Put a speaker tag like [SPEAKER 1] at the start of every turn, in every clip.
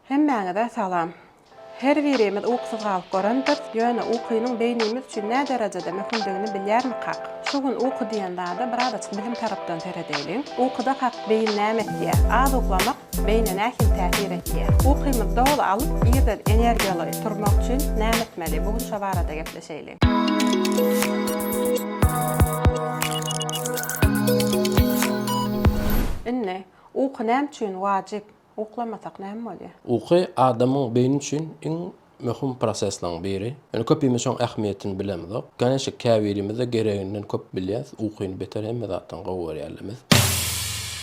[SPEAKER 1] Hemmäňize salam. Her birimiz ukusyz galyp görendiris, ýöne ukynyň beýnimiz üçin näderejede möhümdigini bilýärmikak? Şu gün uky diýen zada birazajyk bilim tarapdan seredeýliň. Ukudakak beýin näme etýär? Az uklamak beýne nähili täsir etýär? Ukymyzy doly alyp, irden energiýaly turmak üçin näme etmeli? Bu gün şo barada gepleşeýliň. Indi, uky näme üçin wajyp? Uklamasak näme bolýar? Uky adamyň
[SPEAKER 2] beýni üçin iň möhüm prosesleriň biri. Ýöne köpimiz şoň ähmiýetini bilemizok. Garaşyk käbirimiz-de gereginden köp bilýäs, ukyny beter hemme zatdan gowy görýärlimiz.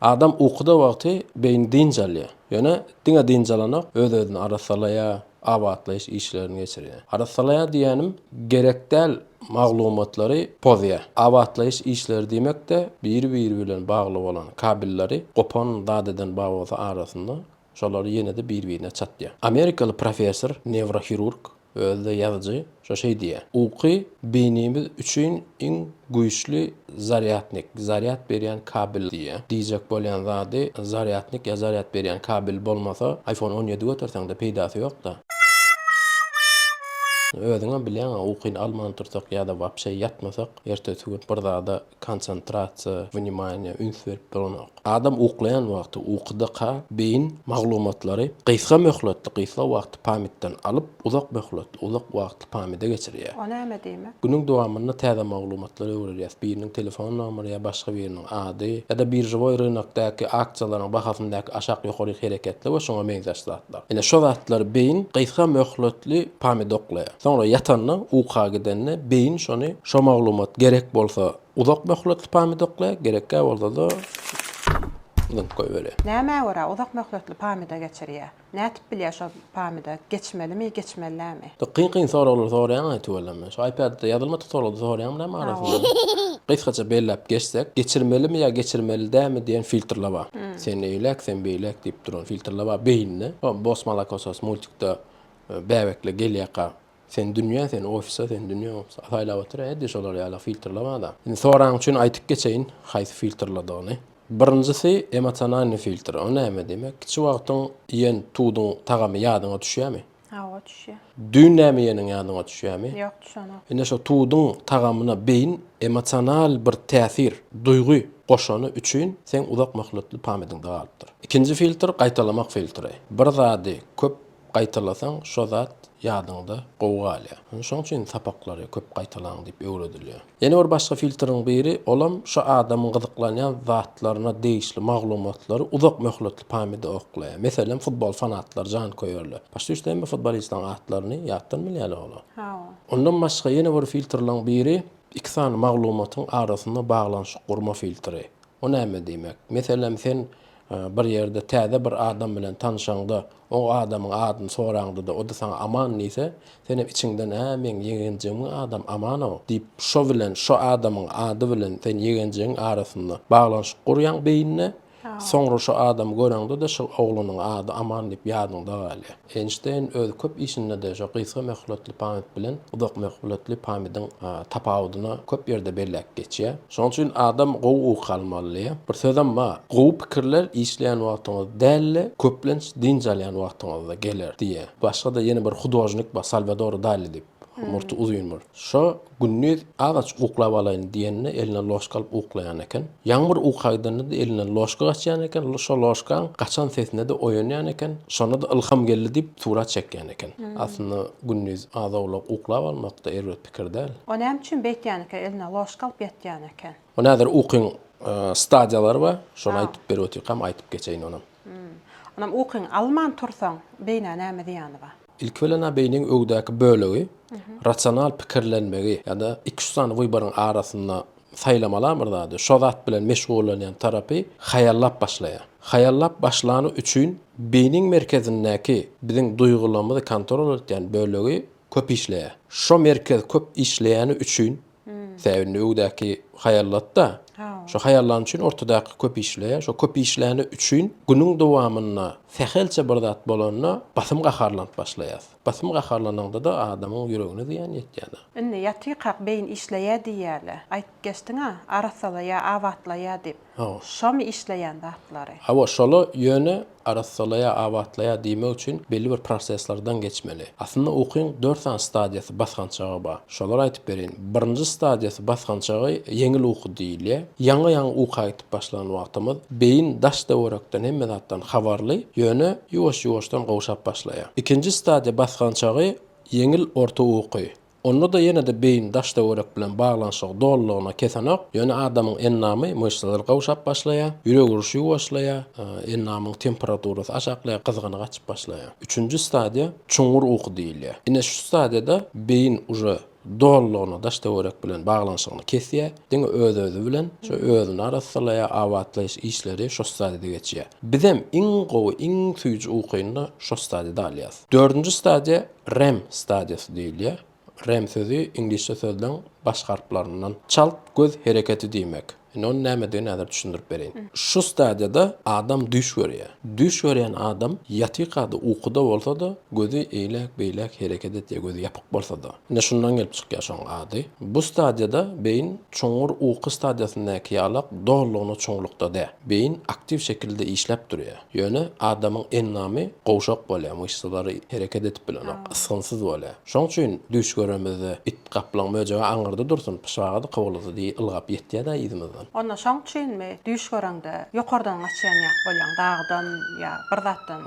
[SPEAKER 2] Adam ukuda wagty beýni dynç alýar. Ýöne diňe dynç alanok, öz-özüni arassalaýar, abatlaýyş işlerini geçirýär. Arassalaýar diýýänim, gerek däl maglumatlary pozýar. Abatlaýyş işleri diýmek-de biri-biri bilen bagly bolan kabelleri gopan zat eden babolsa arasynda şolary ýene-de bir-birine çatýar. Amerikaly professor, newrohirurg, özi-de ýazyjy, şo şeý diýýär, Uky beýnimiz üçin iň güýçli Zarýadnik, zarýad berýän kabel diýýär. Diýjek bolýan zady, zarýadnik ýa zarýad berýän kabel bolmasa, iPhone on ýedi göterseň-de peýdasy ýok-da. Özüňem bilýäň-a, ukyny alman otursak ýa-da wapşe ýatmasak, ertesi gün bir zada konsentrasiýa, wnimaniýa, üns berip duranok. Adam uklaýan wagty ukydyka beýin maglumatlary gysga möhletli gysga wagtly pamýtden alyp, uzak möhletli uzak wagtly pamýde geçirýär. O näme diýmek? Günüň
[SPEAKER 1] dowamynda täze
[SPEAKER 2] maglumatlary öwrerýäs, biriniň telefon nomeri ýa başga biriniň ady, ýa-da biržewoý rynokdaky aksiýalaryň bahasyndaky aşak-ýokaryk hereketler we şuňa meňzeş zatlar. Ine şo zatlary beýin gysga möhletli pamýde uklaýar. Soňra ýatanda, uka gidende beýin şony şo maglumat gerek bolsa Uzak möhletli pamidokla gerekgä bolsada zyňyp goýbeli. Nämä görä uzak
[SPEAKER 1] möhletli pamida geçirýä? Nätip bilýä şo pamida geçmelimi geçmeli dämi. Siz kyn kyn soraglar
[SPEAKER 2] soraýaňaý tüweleme. Şu iPadda ýazylmadyk soragda soraýaňmylämi arasynda. Gysgaça belläp geçsek, geçirmelimi ýa geçirmeli dämi diýen filtrle bar. Sen eýläk, sen beýläk diýip duran filtrle bar beýinde. Bos Malakosos multikde bäbekle gelýäka Sen dünýä sen ofisa sen dünýä ofisa saýlap otur edýä şolar ýala filtrlap adam. Indi soraň üçin aýtyp geçeýin haýsy filtrladygyny. Birinjisi emosionalnyý filtr o näme diýmek kiçi wagtyň iýen tuduň tagamy ýadyňa düşýämi? Hawa düşýä.
[SPEAKER 1] Düýn näme iýeniň
[SPEAKER 2] ýadyňa düşýämi? Ýok düşenok. Ine
[SPEAKER 1] şo tuduň
[SPEAKER 2] tagamyna beýin emosional bir täsir, duýgy goşany üçin seň uzak möhletli pamediňde galypdyr. Ikinji filtr gaýtalamak filtri. Bir zady köp Gaýtalasaň şo zat ýadyňda gowy galýar. Indi şoň üçin sapaklary köp gaýtalaň diýip öwredilýär. Ýene bir başga filtriň biri, olam şo adamyň gyzyklanýan zatlaryna degişli maglumatlary uzak möhletli pamýada oklaýar. Meselem futbol fanatlary, janköýerler. Başda üçde hemme futbolistleriň atlaryny ýatdan bilýärler olar. Hawa. Ondan
[SPEAKER 1] başga ýene
[SPEAKER 2] bir filtrlaň biri, iki sany maglumatyň arasynda baglanyşyk gurma filtri. O näme diýmek? Meselem sen Bir ýerde täze bir adam bilen tanşaňda, o adamyň adyny soraňda-da, o-da saňa Aman diýse, sen hem içiňden, Ä, meň ýegenjigimiň adamy Aman-ow! diýip, şo bilen, şo adamyň ady bilen sen ýegenjigiň arasynda baglanyşyk gurýaň beýnine, soňra şo adamy göreňde-de, şol oglanyň ady Aman diýip ýadyňda galýar. Eýnşteýn öz köp işinde-de şo gysga möhletli pamýt bilen uzak möhletli pamýdyň tapawudyny köp ýerde belläp geçýär. Şonuň üçin adam gowy uky almaly. Bir sözem bar, Gowy pikirler işleýän wagtyňyz däl-de, köplenç dynç alýan wagtyňyzda geler diýýär. Başga-da ýene bir hudožnik bar, Salwador Dali diýip, murty uzyn bir. Şo Gündiz agaç uklap alaýyn diýende eline ložka alyp uklaýan eken. Ýaňmyr uka gidende-de elinden ložka gaçýan eken, şo ložkaň gaçan sesine-de oýanýan eken, şonda-da ylham geldi diýip surat çekýän eken. Aslynda gündiz az-owlak uklap almak-da erbet pikir däl. O näme üçin beýtýän
[SPEAKER 1] eken, eline ložka alyp ýatýan eken? Munä häzir ukyň
[SPEAKER 2] stadiýalary bar, şony aýdyp berip otyrkam aýdyp geçeýin onam. Hum. Onam
[SPEAKER 1] ukyňy alman tursaň, beýnä näme zyýany bar? Ilki bilen-ä beýniň
[SPEAKER 2] öwdäki bölegi rasional pikirlenmegi ýa-da iki-üç sany wyboryň arasynda saýlamalan bir zady, şo zat bilen meşgullanýan tarapy haýallap başlaýar. Haýallap başlany üçin beýniň merkezindäki biziň duýgularymyzy kontrol etýän bölegi köp işleýär. Şo merkez köp işleýäni üçin Tä indi öwdäki haýallat-da. Şo haýallan üçin ortadaky köp işleýär. Şo köp işläni üçin günüň dowamynda sähelçe bir zat bolanda basym gaharlanyp başlaýas. Basym gaharlananda-da adamyň ýüregine zyýan ýetýär-de. Indi ýatykak
[SPEAKER 1] beýin işleýär diýýärler. Aýdyp geçdiň-ä, arassalaýar, abatlaýar diýip. Hawa.
[SPEAKER 2] Şomy işleýän
[SPEAKER 1] zatlary? Hawa, şola
[SPEAKER 2] ýöne arassalaýar, abatlaýar diýmek üçin belli bir proseslerden geçmeli. Aslynda ukyň dört sany stadiýasy, basgançagy bar. Şolary aýdyp bereýin. Birinji stadiýasy, basgançagy ýeňil uky diýilýär. Ýaňy-ýaňy uka gidip başlan wagtymyz beýin daş-töwerekden, hemme zatdan habarly, ýöne ýuwaş-ýuwaşdan gowşap başlaýar. Ikinji stadiýa, basgançagy ýeňil orta uky. Onda-da ýene-de beýin daş-töwerek bilen baglanyşygy dolulygyna kesenok, ýöne adamyň endamy, myşsalary gawşap başlaýar, ýürek uruşy ýuwaşlaýar, endamyň temperaturasy aşaklaýar, gyzgyny gaçyp başlaýar. Üçünji stadiýa çuňňur uky diýilýär. Ine şu stadiýada beýin uje dolulygyna daş-töwerek bilen baglanyşygyny kesýär, diňe öz-özi bilen, şo özüni arassalaýar, abatlaýyş işleri şo stadiýada geçýär. Bizem iň gowy, iň süýji ukyny-da şo stadiýada alýarys. Dördünji stadiýa Rem stadiýasy diýilýär. Rem sözi iňlisçe sözleň baş harplaryndan çalt göz hereketi diýmek. Indi onuň nämedigini häzir düşündirip bereýin. Şu stadiýada adam düýş görýär. Düýş görýän adam ýatykady, ukuda bolsa-da, gözi eýläk-beýläk hereket edýär, gözi ýapyk bolsa-da. Ine, şundan gelip çykýar şoň ady. Bu stadiýada beýin çuňňur uky stadiýasyndaky ýalak dolulygyna çuňlukda däl. Beýin aktiw şekilde işläp durýar. Ýöne adamyň endamy gowşak bolýar, myşsalary hereket edip bilenok, ysgynsyz bolýar. Şoň üçin düýş göremizde it, gaplaň, möjege aňyrda dursun, pyşaga-da, kowala-da diýip ylgap ýetýär-dä yzymyzdan. Onda şoň üçinmi
[SPEAKER 1] düýş göreňde ýokardan gaçýan ýaly bolýaň, dagdan ýa bir zatdan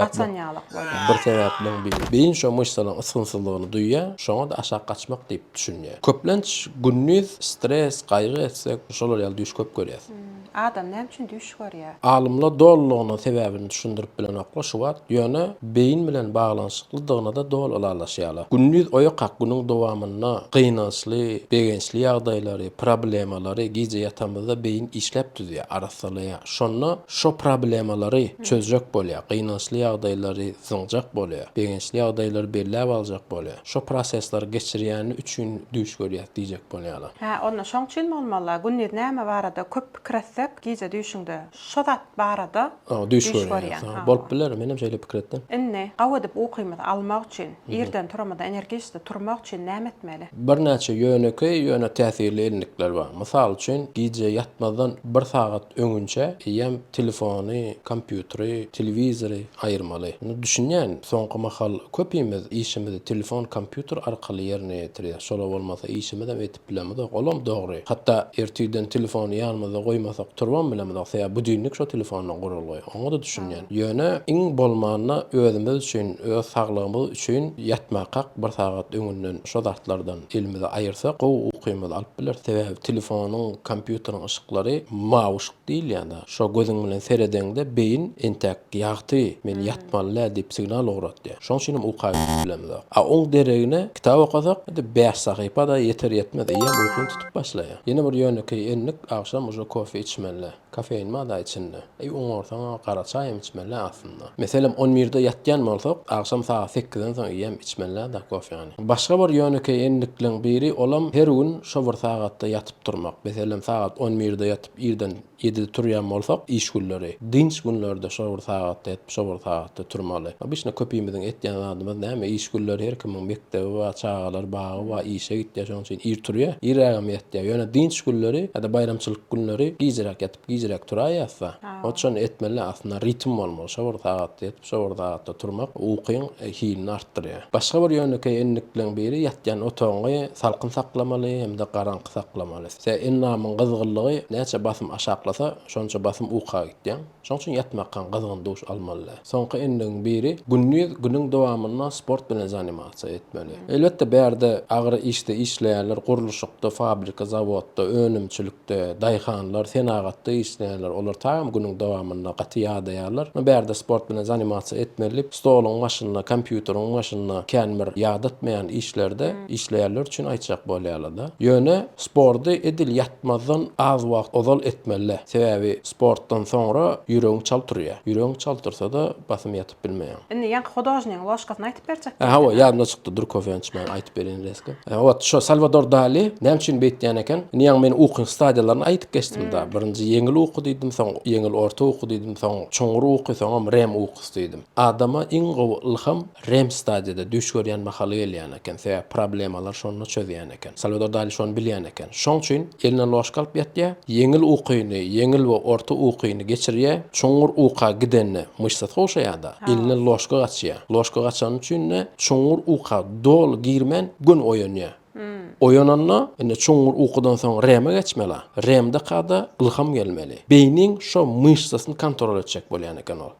[SPEAKER 1] gaçan
[SPEAKER 2] ýaly bolýaň?
[SPEAKER 1] Bir sebäpleň biri.
[SPEAKER 2] Beýin şo myşsalaryň ysgynsyzlygyny duýýar, şoňa-da aşak gaçmak diýip düşünýär. Köplenç gündiz stres, gaýgy etsek, şolar ýaly düýş köp görýäs. Adam näme üçin
[SPEAKER 1] düýş görýär? Alymlar dolulygyna
[SPEAKER 2] sebäbini düşündirip bilenoklar şu wagt, ýöne beýin bilen baglanyşyklydygyna-da doly ylalaşýarlar. Gündiz oýakak günüň dowamynda gynançly, begençli ýagdaýlary, problemalary gije ýatamyzda beýin işläp düzýär, arassalaýar. Şonda şo problemalary çözjek bolýar, gynançly ýagdaýlary zyňjak bolýar, begençli ýagdaýlary belläp aljak bolýar, şo prosesleri geçirýäni üçin düýş görýär diýjek bolýarlar. Hä, onda şoň üçin
[SPEAKER 1] bolmaly, gündiz näme barada köp pikir etsek, gije düýşüňde şo zat barada düýş görýäň.
[SPEAKER 2] Bolup biler, menem şeýle pikir etdim. Indi gawy edip
[SPEAKER 1] ukymyzy almak üçin, irden turamyzda energiçli turmak üçin näme etmeli? Birnäçe ýönekeý,
[SPEAKER 2] ýöne täsirli endikler bar. Mysal üçin, gije ýatmazdan bir sagat öňünçä eýýäm Telefony, kompýuteri, telewizory aýyrmaly. Indi düşünýän, soňky mahal köpimiz işimizi telefon, kompýuter arkaly ýerine ýetirýäs. Şolar bolmasa işimizem edip bilemizok. Olam dogry. Hatda ertirden telefony ýanymyzda goýmasak turbam bilemizok. Sebäbi budilnik şo telefondan gurulgy. Oňa-da düşünýän. Ýöne iň bolmanda özümiz üçin, öz saglygymyz üçin ýatmakak bir sagat öňünden şo zatlardan elimizi aýyrsak gowy ukymyzy alyp bileris. Sebäbi telefonyň, kompýuteriň yşyklary mawyş. Diýilýänä, şo gözüň bilen seredeňde beýin entäk ýagty, men ýatmaly-dä diýip signal ugratýar. Şoň üçinem uka gidip bilemizok. A oň deregine kitap okasak, hade bäş sahypa-da ýeter-ýetmez eýýäm ukyň tutup başlaýar. Ýene bir ýönekeý endik, agşam uje kofe içmeli-dä. Kofein bar-da içinde. Eý, oňarsaň-a gara çaý hem içmeli-dä aslynda. Meselem, on birde ýatýan bolsak, agşam sagat sekizden soň eýýäm içmeli-dä-da kofeany. Başga bir ýönekeý endikleň biri, olam her gün şo bir sagatda ýatyp, Turmak. Meselem, sagat on birde ýatyp, irden ýedide turýan bolsak, iş günleri, dynç günlerde şol bir sagatda ýatyp, şol bir sagatda turmaly. Obişna köpimiziň etýän zadymyz näme, iş günleri her kimiň mekdebi bar, çagalar bagy bar, işe gitýär, şonuň üçin ir turýar, irrägem ýatýar. Ýöne dynç günleri ýa-da baýramçylyk günleri gijiräk ýatyp, gijiräk turaýýasda, ot şony etmeli, aslynda ritm bolmaly, şo bir sagatda ýatyp, Şo bir zatda turmak ukyň hilini artdyrýar. Başga bir ýönekeý endikleň biri ýatýan otagyňy salkyn saklamaly hem-de garaňky saklamaly. Size endamyň gyzgynlygy näçe basym aşaklasa, şonça basym uka gitýäň. Şoň üçin ýatmakkaň gyzgyn duş almaly däl. Soňky endigiň biri, gündiz günüň dowamynda sport bilen zanimasiýa etmeli. Elbetde bärde agyr işde işleýärler, gurluşykda, fabrika, zawodda, önümçilik, Ýörite daýhanlar, senagatda işleýänler, olar tagam günüň dowamynda gaty ýadaýarlar. Ýöne bärde sport bilen zanimasiýa etmezlik, stoluň başynda, kompýuteriň başynda kän bir ýadatmaýan işlerde işleýänler üçin aýtjak bolýarlar-da. Ýöne sporty edil ýatmazdan az wagt ozal etmeli-dä. Sebäbi sportdan soňra ýüregiň çal turýar. Ýüregiň çal tursa-da basym ýatyp. bilmeýäň. Indi ýaňky hudožnigiň
[SPEAKER 1] ložkasyny aýtyp berjek diýýä. Hawa, ýadymdan çykdy, durk
[SPEAKER 2] Howeýanç men aýtyp bereýin reska. Ot, şo Salwador Dali näme üçin beýtýän eken? Indi ýaňy men ukyň stadiýalaryny aýdyp geçdim-dä. Birinji ýeňil uky diýdim, soň ýeňil orta uky diýdim, soň çuňňur uky, soňam rem ukusy diýdim. Adama iň gowy ylham rem stadiýada düýş görýän mahaly gelýän eken, sebäbi problemalar şonda çözýän eken. eken. Salwador Dali şony bilýän eken. Şoň üçin eline ložka alyp ýatýar. Ýeňil ukyny, ýeňil we orta ukyny geçirýär. Çuňňur uka gidende myşsa sowşaýar-da, eline ložka gaçýar. Ložka gaçany üçin-de çuňňur uka doly girmän, göni oýanýar. Oýananda, indi çuňňur ukudan soň REM-e geçmeli-a. REM-daka-da ylham gelmeli. Beýniň şo myşsasyny kontrol etjek bolýan eken ol.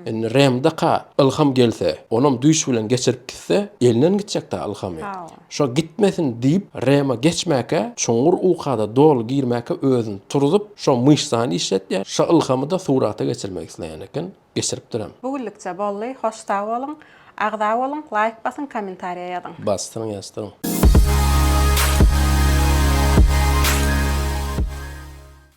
[SPEAKER 2] Indi REM-daka ylham gelse, onam düýş bilen geçirip gitse, elinden gitjek-dä ylhamy. Şo gitmesin diýip, Rema geçmäkä, çuňňur uka-da doly girmäkä özüni turzup, şo myşsany işletýär, şo ylhamy-da surata geçirmek isleýän eken, geçiripdirem. Bu günlükçe boldy,
[SPEAKER 1] hoş sag boluň,
[SPEAKER 2] agza
[SPEAKER 1] boluň, laýk basyň, kommentariýa ýazyň. Basdyryň ýazdyryň.